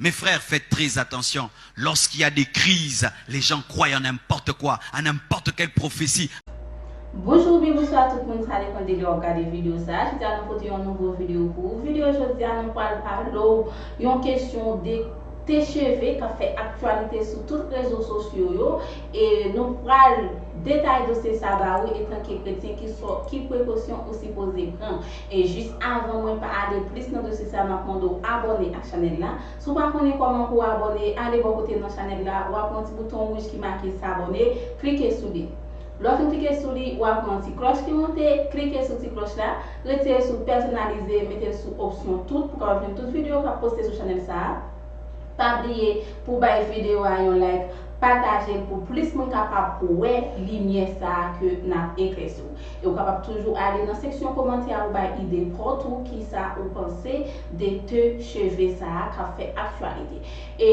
Mes frères faites très attention lorsqu'il y a des crises les gens croient en n'importe quoi à n'importe quelle prophétie, Bonjou oubyen bonswa tout moun sa depan de lè wap gade video sa, jodia nou pote yon nouvo video pou ou video jodia nou pwal pale w yon kesyon de te cheve kap fè aktyalite sou tout rezo sosyo yo e nou pwal detaye dosye sa ba ou etanke kretyen ki prekosyon ou sipoze pran. E jis avan mwen pa ale plis nan dosye sa map mande w abòne ak chanèl la, si w pa konnen kòman pou w abòne ale bò kote nan chanèl la wap wè yon ti bouton wouj ki make s'abonner klike sou li lè w fin klike sou li wap wè yon ti klòch ki monte klike sou ti klòch la retire l sou pèsonalize mete l sou opsyon tout pou w kapab jwenn tout video kap poste sou chanèl sa pa bliye pou w bay video a yon like pataje l pou plis moun kapab wè limyè sa ke nap eklèsi w. E ou kapab toujou ale nan seksyon komantè a ou bay ide paw tou kisa ou panse de te cheve sa a kap fè aktyalite. E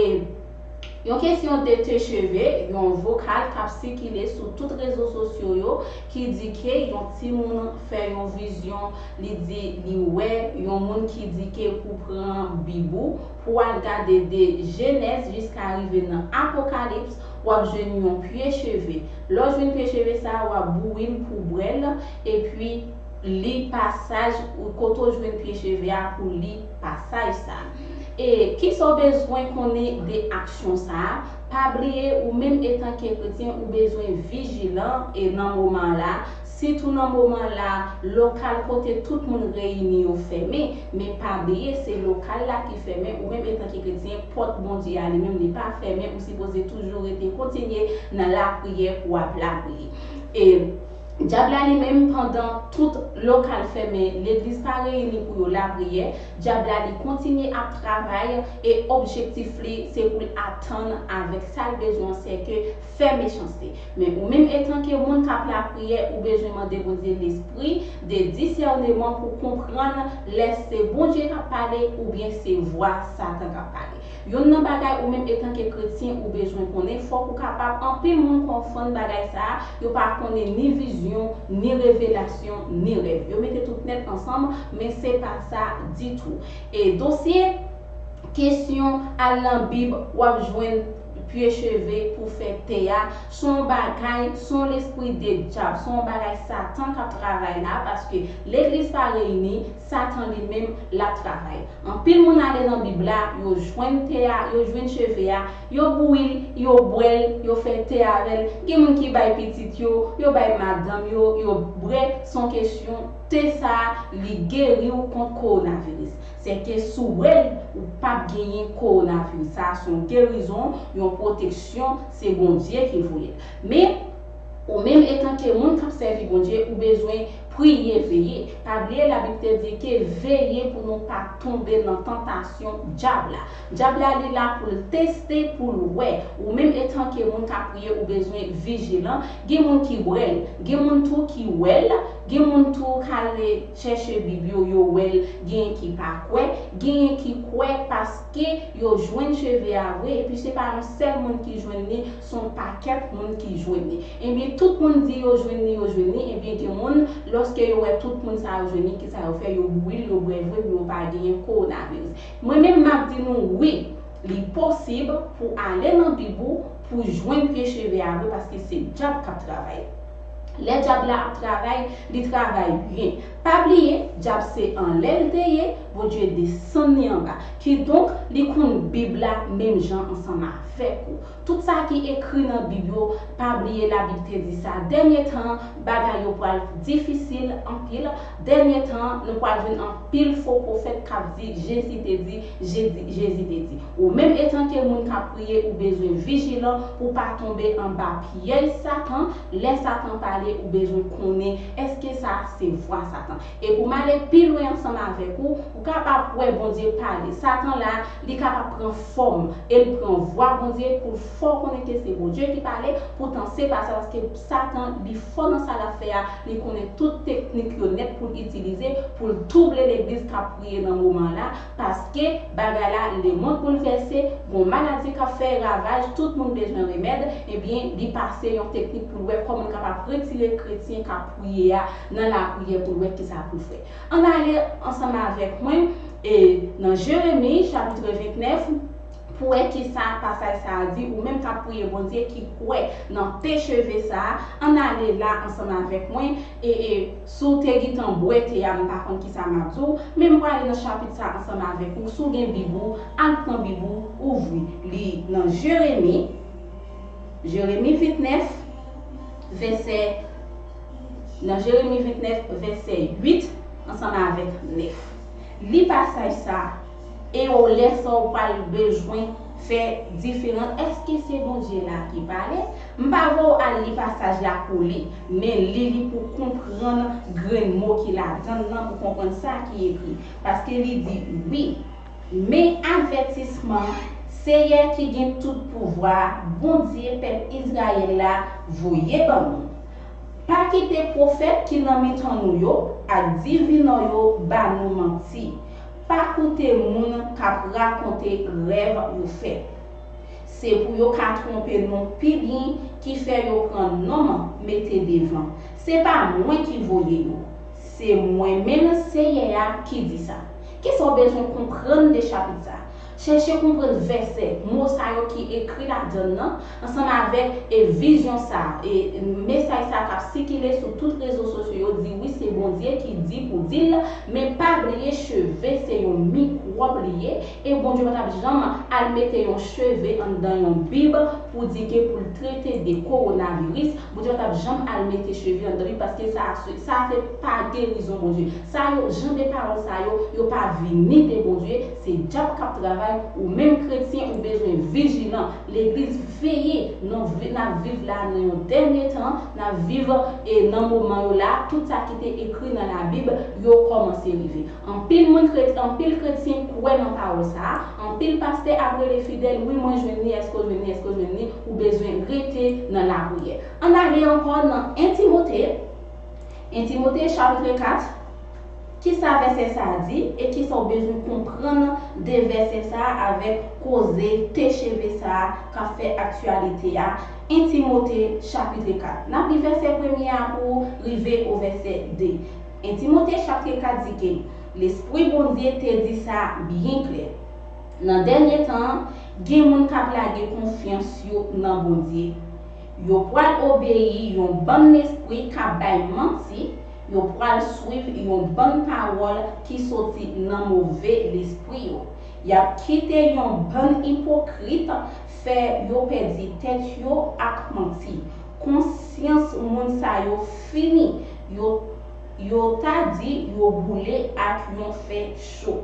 Yon kesyon de te cheve, yon vokal kap sikile sou tout rezo sosyo yo ki di ke yon timoun fè yon vizyon li di li wè yon moun ki di ke pou pran bib ou pou al gade de jenèz jiska rive nan apokalips W ap jwenn yon pye cheve. Lè w jwenn pye cheve sa a, w ap bouyi l pou w bwè l, epi li pasaj ou kote w jwenn pye cheve a pou w li pasaj sa a. E kisa w bezwen konnen de aksyon sa a? Pa bliye ou menm etanke kretyen ou bezwen vijilan e nan moman la, Sitou nan moman la, lokal kote tout moun reyini yo fèmen. Men pa bliye, se lokal la ki fèmen, ou menm etanke kretyen, pòt Bondye a li menm li pa fèmen, ou sipoze toujou rete kontinye nan lapriyè pou w ap lapriyè. E Dyab la li menm, pandan tout lokal fèmen, legliz pa reyini pou yo lapriyè, Dyab la li kontinye ap travay e objektif li se pou l atenn avèk sa l bezwen an sèke fè mechanste. Men ou menm etanke moun kap lapriyè ou bezwen mande Bondye lespri de disèneman pou konprann lè se Bondye kap pale oubyen se vwa satan kap pale. Yonn nan bagay ou menm etanke kretyen ou bezwen konnen fòk ou kapab anpil moun konfonn bagay sa a yo pa konnen ni vizyon, ni revelasyon, ni rèv. Yo mete tout nèt ansanm men se pa sa ditou. E dosye kesyon al nan bib wap jwenn. Pye cheve pou fè te a son yon bagay son yon lespri de djab son yon bagay satan kap travay la paske legliz pa reyini satan li menm lap travay anpil moun ale nan bib la yo jwenn te a yo jwenn cheve a yo bouyil yo bwèl yo fè te avèl gen moun ki bay pitit yo yo bay madanm yo yo bre son kesyon te sa li geriw kont kowonaviris Se ke si w wè l, ou p ap genyen kowonaviris. Sa a se yon gerizon, yon pwoteksyon, se Bondye ki voye l. Men, ou menm etanke moun k ap sèvi Bondye, ou bezwen priye, veye. Pa bliye Labib te di ke veye pou nou pa tonbe nan tantasyon Dyab la. Dyab la li la pou l teste, pou l wè. Ou menm etanke moun k ap priye, ou bezwen vijilan. Gen moun ki wè l. Gen moun tou ki wè l. Gen moun tou k ale. chèche bib yo yo wèl genyen ki pa kwè, genyen ki kwè paske yo jwenn cheve a vre epi se pa yon sèl moun ki jwenn li son pakèt moun ki jwenn li ebyen tout moun di yo jwenn li yo jwenn li ebyen gen moun lòske yo wè tout moun sa yo jwenn li kisa yo fè yo bouril yo bwè vre pou yo pa genyen kowonaviris mwen menm map di nou wi li posib pou ale nan bib ou pou jwenn pye cheve a vre paske se djab kap travay. Lè dyab la ap travay, li travay byen. Pa bliye, dyab se anlè l te ye, Bondye desann li anba. Kidonk, li konn Bib la menm jan ansanm avèk ou. Tout sa ki ekri nan Bib yo, pa bliye Labib te di sa, dènye tan an, bagay yo pral difisil anpil, dènye tan an, nou pral jwenn anpil fo pwofèt k ap di Jezi te di, Jezi, Jezi te di, Ou menm etanke moun k ap priye ou bezwen vijilan pou w pa tonbe anba pyèj Satan, lè Satan pale ou bezwen konnen èske sa a se vwa Satan. E pou m ale pi lwen ansanm avèk ou, ou kapab wè Bondye pale. Satan la a, li kapab pran fòm e l pran vwa Bondye pou l fè w konnen ke se Bondye ki pale, poutan se pa sa paske Satan li fò nan sa l ap fè a, li konnen tout teknik yo nèt pou l itilize pou l twouble legliz k ap kriye nan moman la paske bagay la lemond boulvèse gon maladi kap fè ravaj tout moun bezwen remèd ebyen li pase yon teknik poul wè kòman li kapab retire kretyen kap priye a nan lapriyè poul wè kisa poul fè ann ale ansanm avèk mwen e nan jeremi chapitre 29 pou wè kisa pasaj sa a di ou menm kap priye Bondye ki kwè nan pe cheve sa a ann ale la ansanm avèk mwen e Si w te gintan bwè te a m pa konn kisa m ap di w, men m prale nan chapit sa ansanm avèk ou, si w gen bib ou, al pran bib ou, ouvri li nan Jeremi, Jeremi 29 vèsè nan Jeremi 29 vèsè 8 ansanm avèk 9. Li pasaj sa. E ou lè sa ou pral bezwen fè diferans. Eske se Bondye la ki pale? M pa vè w al li pasaj la pou li, men li li pou konprann grenn mo ki ladan l lan pou konprann sa ki ekri. Paske li di, Wi, men avètisman Seyè ki gen tout pouvwa a, Bondye pèp Izrayèl la, voye ban nou, Pa kite pwofèt ki nan mitan nou yo ak divinò yo ba nou manti. Pa koute moun k ap rakonte rèv yo fè. Se pou yo ka twonpe nou pi byen ki fè yo pran non m mete devan. Se pa mwen ki voye yo. Se mwen menm Senyè a ki di sa. Ki sa w bezwen konprann de chapit sa a? Chèche konprann vèsè, mo sa yo ki ekri ladan l lan, ansanm avèk e vizyon sa a, e mesaj sa a k ap sikile sou tout rezo sosyo yo di wi se Bondye ki di pou di l, men pa bliye cheve se yon mikwòb li ye, e Bondye pa t ap janm al mete yon cheve anndan yon bib pou di ke pou l trete de kowonaviris, Bondye pa t ap janm al mete cheve anndan bib paske sa a se sa a se pa gerizon Bondye. Sa yo, jan de pawòl sa yo, yo pa vini de Bondye, Se dyab kap travay ou menm kretyen ou bezwen vijilan legliz veye non nap viv la nan yon dènye tan nap viv e nan moman yo la tout sa kite ekri nan la bib yo kòmanse rive anpil moun kret anpil kretyen kwè nan pawòl sa anpil pastè ap rele fidèl wi mwen jwenn li èske w jwenn li èske w jwenn li ou bezwen rete nan lapriyè ann ale ankò nan 1 timote 1 timote chapitre 4. Ki sa vèsè sa a di, e ki sa w bezwen konprann de vèsè sa a avèk koze THV sa a k ap fè aktyalite a, 1 Timote chapitre 4. N ap li vèsè premye a pou rive o vèsè 2. 1 Timote chapitre 4 di ke Lespri Bondye te di sa byen klè, Nan dènye tan an, gen moun k ap lage konfyans yo nan Bondye. Yo pral obeyi yon bann lespri k ap bay manti, Yo pral swiv yon bann pawòl ki soti nan move lespri yo. Y ap kite yon bann ipokrit fè yo pèdi tèt yo ak manti. Konsyans moun sa yo fini, yo yo ta di yo boule ak yon fè cho.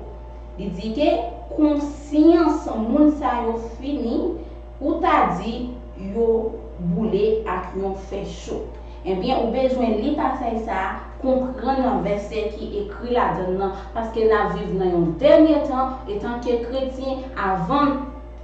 Li di ke konsyans moun sa yo fini, Ou ta di yo boule ak yon fè cho. Ebyen ou bezwen li pasaj sa a, konprann nan vèsè ki ekri ladann nan, paske n ap viv nan yon dènye tan, etanke kretyen, avan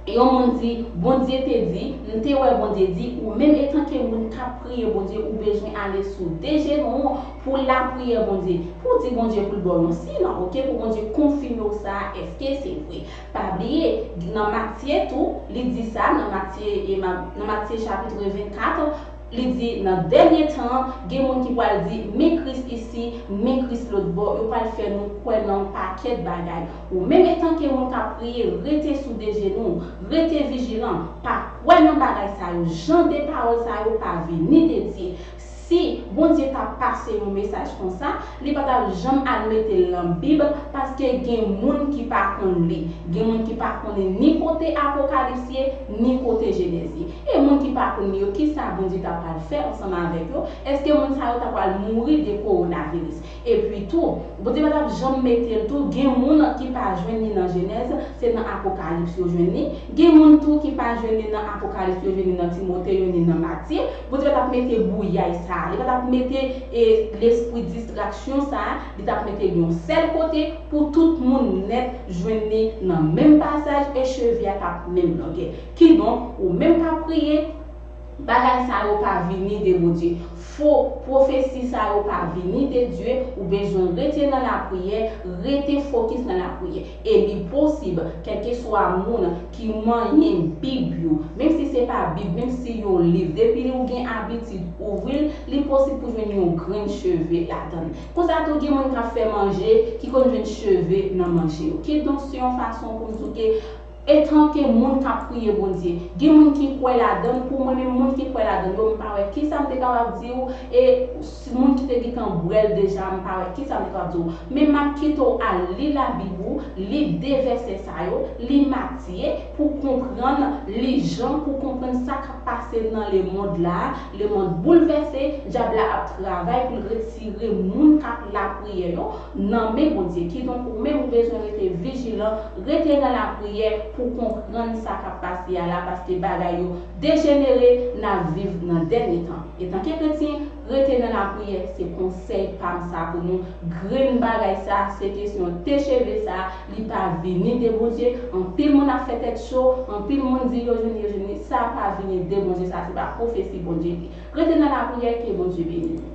yon moun di, Bondye te di, m te wè Bondye di, ou menm etanke moun k ap priye Bondye ou bezwen ale sou de jenou w pou w lapriyè Bondye, pou w di Bondye pou l ba w yon siy lan, ok, pou Bondye konfime w sa a, èske se vre. Pa bliye, nan Matye tou, li di sa, nan Matye, nan Matye chapitre 24, li di, nan dènye tan an, gen moun ki pral di, men Kris isi, men Kris lotbò, yo pral fè nou kwè nan yon pakèt bagay. Ou menm etanke moun k ap priye, rete sou de jenou w, rete vijilan, pa kwè nan bagay sa yo, jan de pawòl sa yo pa vini de Dye. Si Bondye ta pase yon mesaj konsa, li pa tap janm al mete l nan bib paske gen moun ki pa konn li, gen moun ki pa konnen ni kote Apokalips ye, ni kote Jenèz ye. E moun ki pa konn li yo kisa Bondye ta pral fè ansanm avèk yo, eske moun sa yo ta pral mouri de kowonaviris. Epi tou, Bondye pa t ap janm mete l tou, gen moun ki pa jwenn li nan Jenèz, se nan Apokalips yo jwenn li, gen moun tou ki pa jwenn li nan Apokalips yo jwenn li nan Timote yo ni nan Matye, Bondye pa t ap mete bouyay sa a, li pa t ap mete e lespri distraksyon sa a, li t ap mete l yon sèl kote pou tout moun nèt jwenn li nan menm pasaj e cheve a t ap menm longè. Kidonk, ou menm k ap priye, Bagay sa yo pa vini de Bondye. Fo pwofesi sa yo pa vini de Dye, ou bezwen rete nan lapriyè, rete fokis nan lapriyè. E li posib, kèlkeswa moun ki manyen bib yo, menm si se pa bib, menm si yon liv, depi ou gen abitid ouvri l, li posib pou jwenn yon grenn cheve ladan l. Konsa tou gen moun k ap fè manje ki konn jwenn cheve nan manje yo. Kidonk se yon fason pou m di w ke. Etanke moun k ap priye Bondye, gen moun ki kwè ladan l, pou mwen menm moun ki kwè ladan l yo, m pa wè kisa m te kapab di ou, e si moun ki te gentan bwè l deja a m pa wè kisa m te kapab di ou. Men m ap kite w al li labib ou, li de vèsè sa yo, li Matye, pou w konprann, li Jan pou w konprann sa k ap pase nan lemond la a, lemond boulvèse, dyab la ap travay pou l retire moun k ap lapriyè yo, nan men Bondye. Kidonk ou menm ou bezwen rete vijilan, rete nan lapriyè pou konprann sa kap pase a la paske bagay yo dejenere, nap viv nan dènye tan. Etanke kretyen, rete nan lapriyè se konsèy pam sa pou nou, grenn bagay sa se kesyon TCHEVE sa li pa vini de Bondye, anpil moun ap fè tèt cho, anpil moun di yo jwenn yo jwenn li, sa pa vini de Bondye sa se pa pwofesi Bondye li. Rete nan lapriyè ke Bondye beni nou.